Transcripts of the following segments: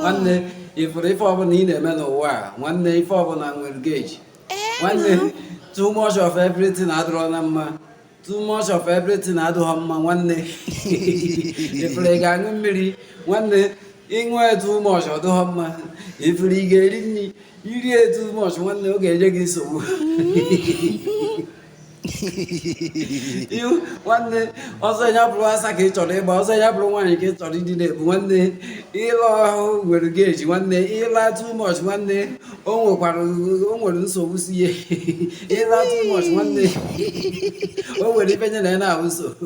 nwanne ị fụrụ ife ọbụla ị na-eme n'ụwa a nwanne ife ọbụla nwere gauge eh, nwanne too much of everything adịrọ na mma too much of everything adịghọ mma nwanne ị fụrụ ị ga-aṅụ mmiri nwanne ị ṅụọ too much ọ dịghọ mma ị fụrụ ị ga-eri nri i rie too much nwanne ọ ga-enye gị nsogbu ihu nwanne ọzọ ya bụrụ asa ka ị chọrọ ịgba ọzọ ya bụrụ nwaanyị ka ị chọrọ ịdị na-ebu nwanne ịla ahụ nwere gauge nwanne ịla too much nwanne o nwekwara o nwere nsogbu si ihe ịla too much nwanne o nwere ife nye na ya n'ahụ nsogbu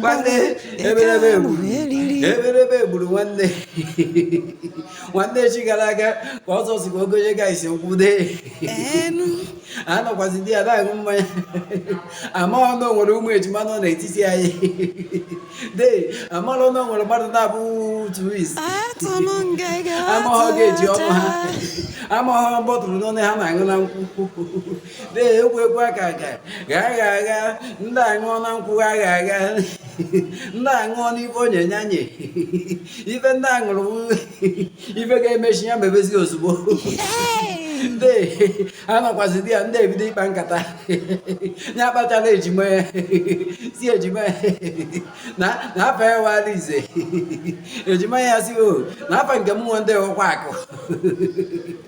nwanne eberebe gburu eberebe gburu nwanne nwanne echi gara aga ka Ọzọ sị ka o gonye guys nkwụ dee a nọkwazi there na-aṅụ mmanya amaghọ na o nwere ụmụ ejima nọ n'etiti anyị dee amarọ na o nwere mmadụ naabọ twins amaghọ gauge ọnụ ha amaghọ bọtụlụ one ha na-aṅụ na nkwụ na-egwu egwu aka aga gha agha agha ndị aṅụọ na nkwụ agha agha ndị aṅụọ n'ife onye nyanye ife ndị aṅụrụ ife ga-emechi ya mebezi ozugbo ndị anọkwazi there ndị ebido ịkpa nkata ya akpachala ejima ya sị ejima ya na afa ya wụ Arinze ejima ya sị o oh, na afa nke m nwe ndị ọkwa akụ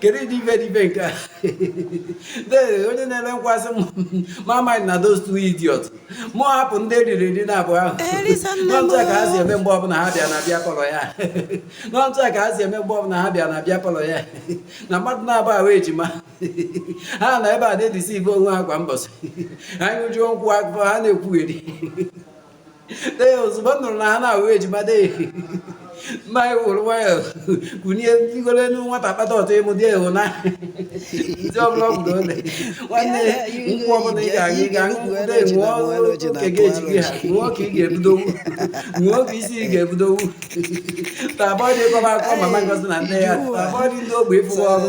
kedu ụdị ife dị ife nke a dee onye na-ere nkwụ asị m mụ amindna those two idiots mụ hapụ ndị eriri eri naabọ ahụ Erisa nne m. na otu a ka ha si eme mgbe ọbụla ha bịa na beer parlour ya na otu a ka ha si eme mgbe ọbụla ha bịa na beer parlour ya na mmadụ naabọ a wụ ejima ha nọ ebe a na-edeceive onwe ha kwa mbọsị ha ṅụjuo nkwụ afọ ha na-ekwugheri ee ozugbo m nụrụ na ha na-awụ ejima dee mụ ewuru nwayọ kunie ntigolo elu nwata kpata ọtọ ịmụ dị ewu na ndị ọbụla ọ bụla ole nwanne nkwụ ọbụla ị ga-aga ịga nkwụ dee ṅụọ nke gauge gị ha ṅụọ ka ị ga-ebudowu ṅụọ ka isi ị ga-ebudowu tupu dee ịkọba akọ mama Ngozi na nne ya tupu dee ndị ogbe ịfụwa ọrụ